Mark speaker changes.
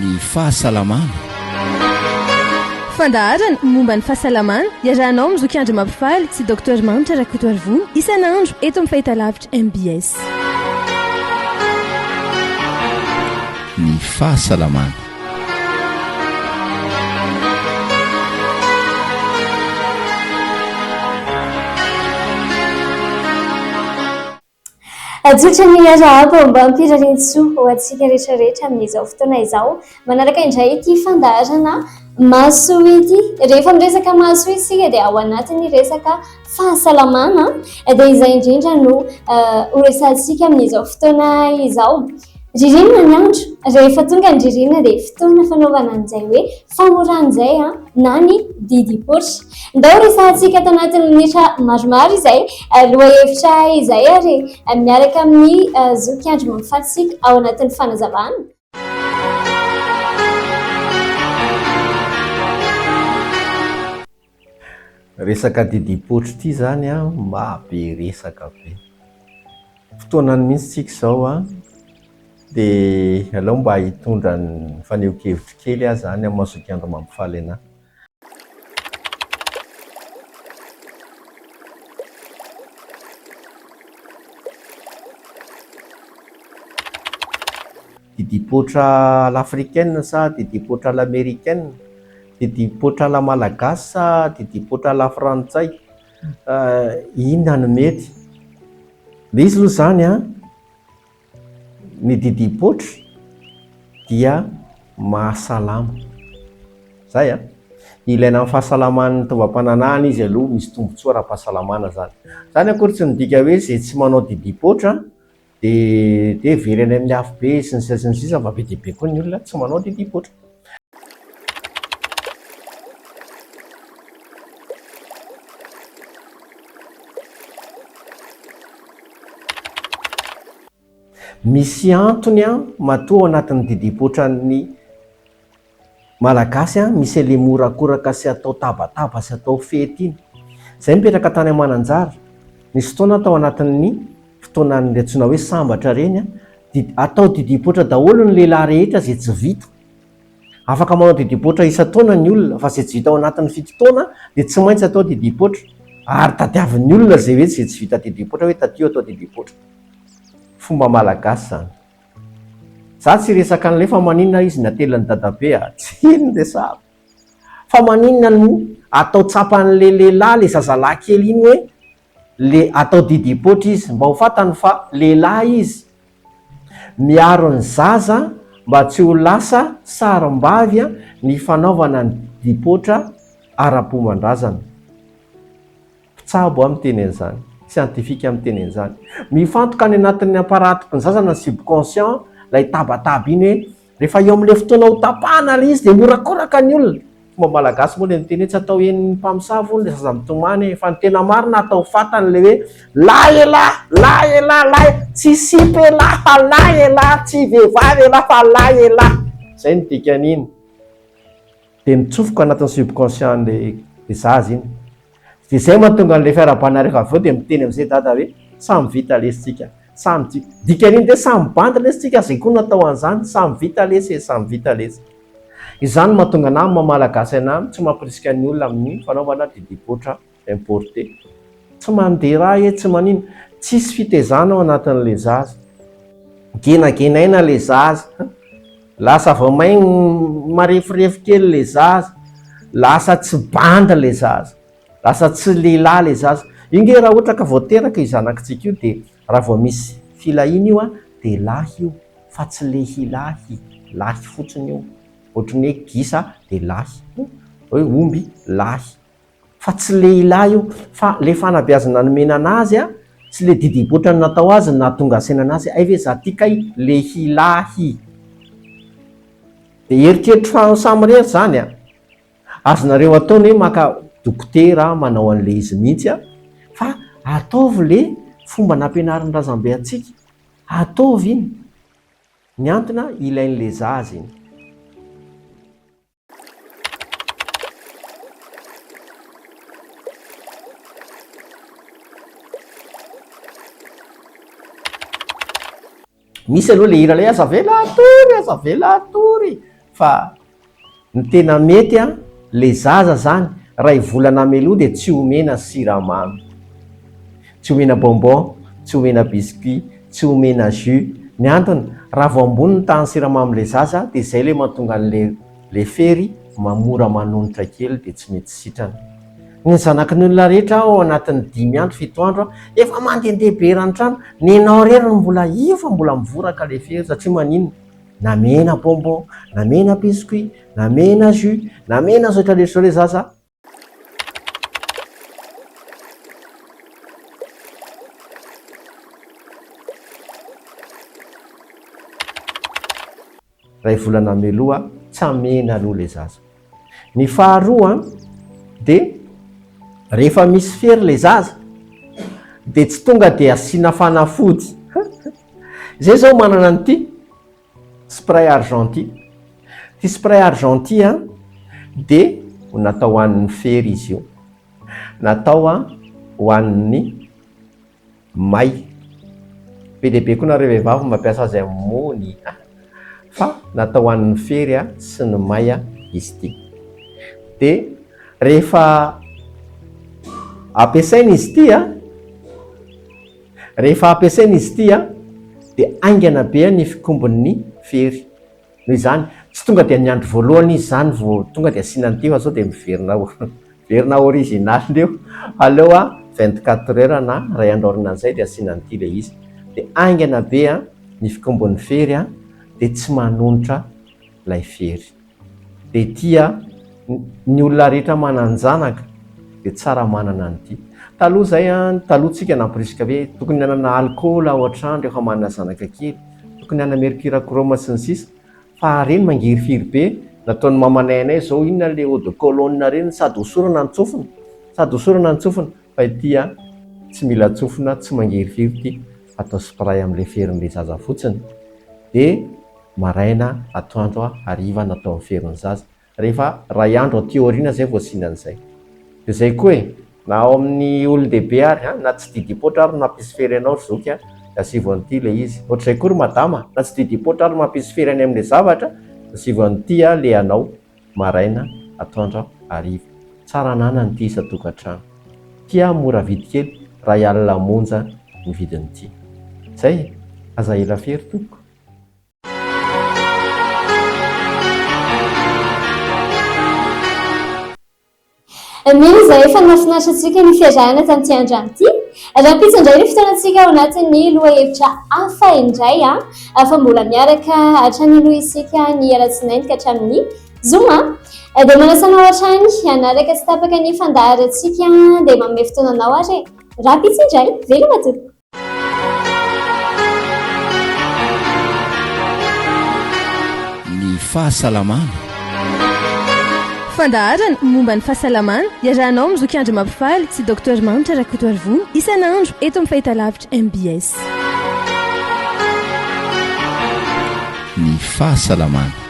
Speaker 1: ny fahasalamana
Speaker 2: fandaharana momba ny fahasalamana iarahanao amin'ny zokiandry mampifaly sy docteur manitra rakotoarivony isan'andro eto amin'ny fahitalavitra mbs
Speaker 1: ny fahasalamana
Speaker 3: Hajotra ny arahaba ombam-pirarian-tsoa ho antsika rehetra rehetra amin'izao fotoana izao. Manaraka indray ity fandaharana mahasoa ity. Rehefa miresaka mahasoa isika dia ao anatin'ny resaka. Fahasalamana dia izay indrindra no ho resahantsika amin'izao fotoana izao. Ririnina ny andro, rehefa tonga ny ririnina dia fotoana fanaovana an'izay hoe famorana izay na ny didim-poritra. Ndao resahantsika ato anatin'ny minitra maromaro izay lohahevitra izay ary miaraka amin'ny zoky Andry Mahafaty isika ao anatin'ny fanazavana.
Speaker 4: Resaka didimpotro ity izany an, maha be resaka be. Fotoanany mihitsy tsika izao an, dia aleo mba hitondra ny fanehoan-kevitro kely aho izany amin'ny mazotoa andro mampifaly anà. Didipoitra à l'africaine sa didipoitra à l'américaine? Didipoitra à la malagasy sa didipoitra à la frantsay? Inona no mety? Misy aloha izany an! Ny didim-potry dia mahasalama. Izay an! Ilaina amin'ny fahasalaman'ny taovam-pananahana izy aloha, misy tombontsoa ara-pahasalamana izany. Izany akory tsy midika hoe izay tsy manao didim-poitra dia dia very any amin'ny afobe sy ny sisa sy ny sisa fa be dia be koa ny olona tsy manao didim-poitra. Misy antony an, matoa ao anatin'ny didim-potran'ny Malagasy an, misy an'ilay morakoraka sy atao tabataba sy atao fety iny. Izahay mipetraka tany Mananjary, nisy fotoana aho tao anatin'ny. fotoanan'ireny antsoina hoe sambatra ireny dia atao didipoitra daholo ny lehilahy rehetra izay tsy vita. Afaka manao didipoitra isan-taona ny olona fa izay tsy vita ao anatin'ny fito taona dia tsy maintsy atao didipoitra ary tadiavin'ny olona izay hoe izay tsy vita didipoitra hoe taty atao didipoitra. Fomba malagasy izany. Za tsy resaka an'ilay fa maninona izy natelin'ny dadabe a, tsy iny no resahako. Fa maninona no atao tsapan'ilay lehilahy ilay zazalahy kely iny hoe le atao didipoitra izy mba ho fantany fa lehilahy izy, miaro ny zaza mba tsy ho lasa sarimbavy ny fanaovana ny didipoitra ara-pomban-drazana. Mpitsabo aho miteny an'izany, siantifika miteny an'izany. Mifantoka any anatin'ny aparati-pnzazana ny subconscient ilay tabataba iny hoe Rehefa eo amin'ilay fotoana hotapahana ilay izy dia mihorakoraka ny olona. Fomba malagasy moa ilay miteny hoe tsy atao henon'ny mpamosavy hono ilay zaza mitomany e! Fa ny tena marina atao fatana ilay hoe lahy elah! lahy elah! lahy e! tsy sipa elah fa lahy elah! tsy vehivavy elah fa lahy elah! Izay no dikan'iny. Dia mitsofoka anatin'ny subconscient an'ilay zaza iny. Dia izay mahatonga an'ilay fiarahabana rehefa avy eo dia miteny amin'izay dada hoe samy vita lesy tsika. Samy tsy, dikan'iny dia samy bandy lesy tsika, izay koa natao an'izany, samy vita lesy e, samy vita lesy. Izany no mahatonga anah amin'ny maha malagasy anah tsy mampirisika ny olona amin'ny fanaovana didipoitra importé. Tsy mandeha ra e, tsy manino. Tsisy fitezana ao anatin'ilay zaza. Genagenaina ilay zaza. Lasa vao main mareforefo kely le zaza, lasa tsy bandy le zaza, lasa tsy lehilahy le zaza, io nge raha ohatra ka vao teraka io zanakitsika io dia raha vao misy filahiana io an dia lahy io fa tsy lehilahy, lahy fotsiny io, ohatry ny hoe gisa dia lahy, hoe omby lahy. fa tsy lehilahy io fa le fanabeazana nomena anazy a, tsy le didimpoitra natao azy no nahatonga asaina anazy hoe hay ve za ty kay lehilahy. De eritreritro fa any samy rery zany a, azonareo atao ny hoe maka dokotera manao anle izy mihitsy a, fa ataovy le fomba nampianarin'ny razambe antsika, ataovy iny, ny antony a ilainle zaza iny. misy aloha le hira le aza avela atory aza avela atory fa ny tena mety a le zaza zany ray volana melody dia tsy omena siramamy Tsy omena bonbon, tsy omena biscuit, tsy omena jus. Ny antony, raha vao ambony ny tahan'ny siramamin'ilay zaza dia izay ilay mahatonga an'ilay ilay fery ma mora manonitra kely dia tsy mety sitrana. Ny zanakin'ny olona rehetra ao anatin'ny dimy andro, fito andro efa mandehandeha be eran'ny trano, nenao irery no mbola io fa mbola mivoraka ilay fery satria maninona? Namena bonbon, namena biscuit, namena jus, namena zotra rehetra izao ilay zaza. Iray volana meloha tsy hamena aloha ilay zaza. Ny faharoa dia rehefa misy fery ilay zaza dia tsy tonga dia asiana fanafody. Izay izao manana an'ity. Spray argenty, ity spray argenty a dia natao ho an'ny fery izy io, natao a ho an'ny may, be dia be koa nareo vehivavy no mampiasa azy aminy a, fa natao ho an'ny fery a sy ny may a izy ity, dia rehefa ampiasaina izy ity a, Rehefa ampiasaina izy ity dia haingana be ny fikombon'ny fery. Noho izany, tsy tonga dia ny andro voalohany izy izany vao tonga dia asiana an'ity fa sao dia miverina miverina original indray eo. Aleo vingt quatre heures na iray andro aorianan'izay dia asiana an'ity ilay izy. Dia haingana be ny fikombon'ny fery dia tsy manonitra ilay fery. dia tia ny olona rehetra manan-janaka dia tsara manana an'ity. Taloha izay, taloha tsika namporisika hoe tokony hanana alikaola ao an-trano rehefa manana zanaka kely, tokony hanana mercure chrome sy ny sisa fa ireny mangirifiry be, nataon'ny mamanay anay izao inona ilay eau de cologne ireny sady hosorana ny tsofina, sady hosorana ny tsofina fa ity tsy mila tsofina, tsy mangirifiry ity, atao spray amin'ilay ferin'ilay zaza fotsiny dia. Maraina, atoandro, hariva no atao mifero ny zaza. Rehefa iray andro aty aoriana izay vao asiana an'izay. Dia izay koa e! Na ao amin'ny olon-dehibe ary an! Na tsy didiam-poatra ary no mampisy fery anao ry zoky an! Dia asivo an'ity ilay izy. Ohatr'izay koa ry madama an! Na tsy didiam-poatra ary no mampisy fery any amin'ilay zavatra dia asivo an'ity an! ilay anao. Maraina, atoandro, hariva. Tsara ananana ity isan-tokantrano. Ity an! mora vidy kely, iray alina monja ny vidin'ity. Izay e! Aza ela fery tompoko.
Speaker 3: Mino izahay fa nahafinaritra antsika ny fiarahana tamin'ity androany ity. Rahampitso indray ny fotoanantsika ao anatin'ny lohahevitra hafa indray fa mbola miaraka hatrany aloha isika ny alatsinainy ka hatramin'ny zoma. Dia manasa anao hatrany hanaraka tsy tapaka ny fandaharantsika dia manome fotoana anao ary e. Rahampitso indray, veloma tompoko.
Speaker 1: Ny fahasalamana.
Speaker 2: Fandaharana momba ny fahasalamana iarahanao amin'i Zoky Andry Mampifaly sy Docteur Mahantra Rakotoarivony isan'andro eto amin'ny Fahitalavitra mbs.
Speaker 1: Ny fahasalamana.